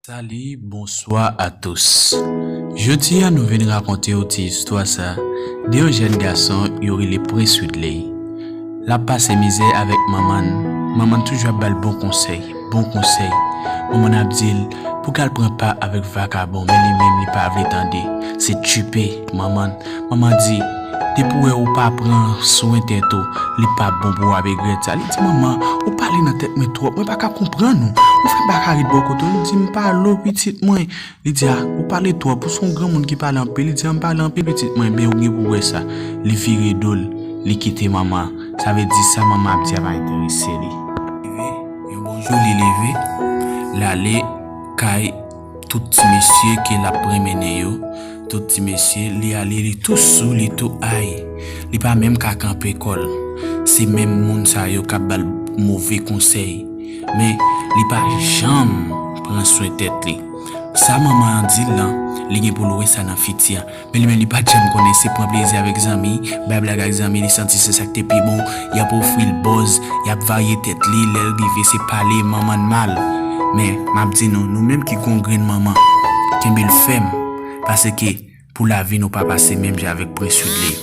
Salut bonswa a tous Jodi a nou vin rakonte w ti istwa sa de yon jèn gason yo rele Prince Widley Lap pase mizè avèk manman n, manman n toujou ap ba l bon konsèy. Bon konsèy. Manman ap dil pou gal pran pa avèk vakabon men li menm li pa vle tande se tchuipe manman manman di depi wè ou pa pran swen tèt ou li pap bon pou wap egrèt sa li di manman ou pale nan tèt mwen twòp mwen paka konprann ou ou fè m paka ret bò kote w li di m pale w pitit mwen. Li di a, ou pale twòp, ou son granmoun ki pale anpil, li di a m pale anpil pitit mwen, ebyen ou gen pou wè sa, li vire do l, li kite manman an, sa vle di sa manman an ap di a pa enterese li. Rive yon bon jou li leve, l ale kay tout ti mesye ke l ap prenmennen yo, tout ti mesye, li ale li tou sou, li tou ay, li pa menm ka kanpe kò l, se menm moun sa yo k ap ba l move konsèy. Men, li pa janm pran swen tèt li. Sa manman an di l lan, li gen pou l wè sa nan fiti a. Men li menm li pa t janm konnen se pran plezi avèk zanmi, bay blag ak zanmi li santi se sa k te pi bon. Y ap ofri l bòz, y ap varye tèt li, lè l rive se pale manman n mal. Men, m ap di nou, nou menm ki gen yon grenn manman, kenbe l fèm, paseke Pou lavi nou pa pase menm jan avèk Prince Widley.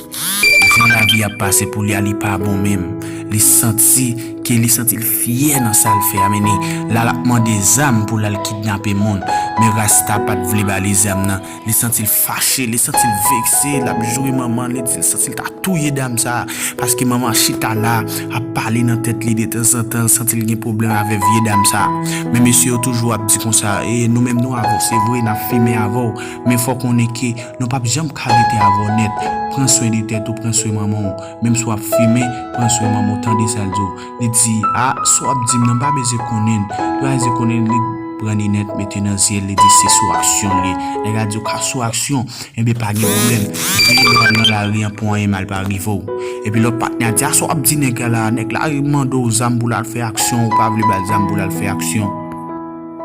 Jan lavi ap pase pou li a li pa bon menm. Li santi ke li santi l fyè nan sa l fè a men li la lap mande zam pou l al kidnape moun. Men Rasta pat vle ba li zam nan. Li santi l fache, li santi l vekse, lap joure manman l, li di l santi l ta touye dam sa a. Paske manman an chita la ap pale nan tèt li detanzantan l santi l gen pwoblèm avè vye dam sa a. Men mesye yo toujou ap di konsa e nou menm nou avanse vre nap fimen avè w. Men fò konnen ke nou pap janm ka rete avèw nèt, pran swen de tèt ou pran swen manmanw, menm si wap fimen pran swen manmanw tande sal diw, li di ah sa wap dim nan mpa bezwen konnenn, li pa bezwen konnenn li pran linèt mete nan zyel li di se sou aksyon liye, nèg la diw ka sou aksyon enben pa gen problèm veye lè wal nan lari an pou anyen mal pa rivew, epi lòt patnè a di ah sa wap di nèg la, nèg la mandew zam poul al fè aksyon ou pa vle bal zam poul al fè aksyon.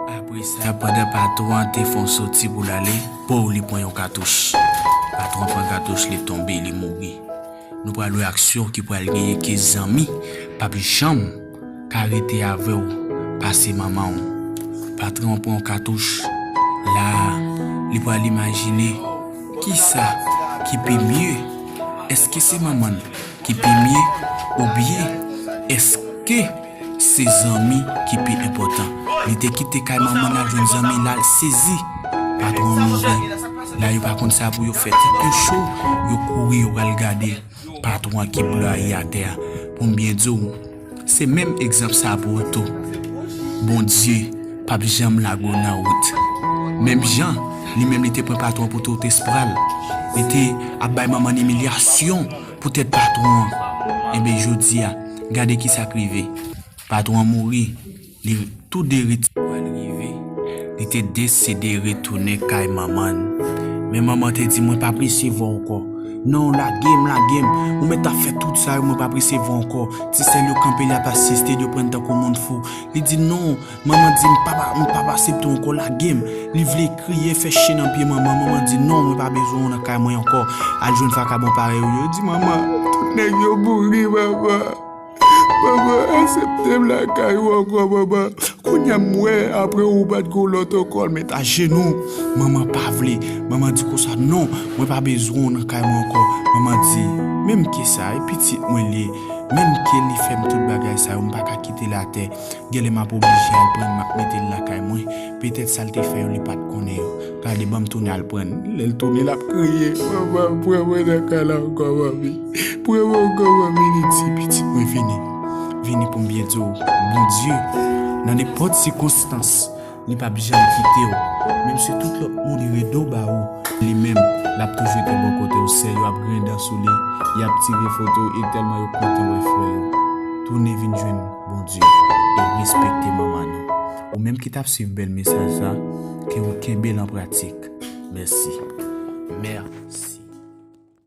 Apre sa, pandan patwon an te fè yon soti pou l ale, pow! li pran yon katouch. Patwon an pran katouch, li tonbe, li mouri. Nou pral wè aksyon ki pral genyen ke zanmi pap janm ka rete avè w pase manman w. Patwon an pran yon katouch. La a, li pral imajine kisa ki pi mye. Eske se manman l ki pi mye oubyen eske. Se zanmi ki pi enpòtan. Li te kite kay manman l al jwenn zanmi l al sezi. Patwon an mouri. La yo pa konn sa pou yo fè. Tèt yo cho, yo kouri yo al gade patwon an ki blayi atè a. Pou m byen di w, se menm egzanp sa pou ou tou. Bondye p ap janm lage w nan wout. Menm jan li menm li te pran patwon pou totes pral. Li te ap bay manman l imilyasyon. Poutèt patwon an, enben jodi a, gade ki sa k rive, patwon an mouri, li, tou de ret. Pral rive, li te deside retounen kay manman l. Men manman an te di, Mwen p ap resevwa w ankò. Non, lage m, lage m! Ou mèt ap fè tout sa yo, mwen p ap resevwa w ankò. Ti sè l yo kanpe, y ap asiste l, yo pran l tankou moun fou. Li di, Non! Manman di m papa m pap asepte w ankò lage m Li vle kriye fè che nan pye manman Manman di non mwen pa bezwen w nan kay mwen ankò Al jwenn vakabon parèy ou yo Di manman tout nèg yo mouri manman Manman asepte m lakay ou ankò manman Kounya m wè apre ou pat gen yon lòt ankò L met ajenou Manman pa vle Manman di konsa non mwen pa bezwen w nan kay mwen ankò Manman di menmke sa e pitit mwen l ye Menmke li fè m tout bagay sa yo m pa ka kite l atè Genlè map oblije al prann map metel lakay mwen petèt sal te fè yo li pat konnen yo gade banm tounen al prann lèl tounen lap kriye mama pran mwen nan kay la ankò manmi pran mwen ankò manmi li di pitit mwen vini vini poum byen diw bondye nan nenpòt sikonstans li pap janm kitew menm si tout lòt moun vire do ba ou li menm lap toujou te bò kotew sè yo ap griyen dan sou li yap tire foto e tèlman yo kontan wè frè yo tounen vin jwenn Bondye e respekte manman nou ou menm ki tap swiv bèl mesaj sa ke ou kenbel an pratik mèsi mèsi.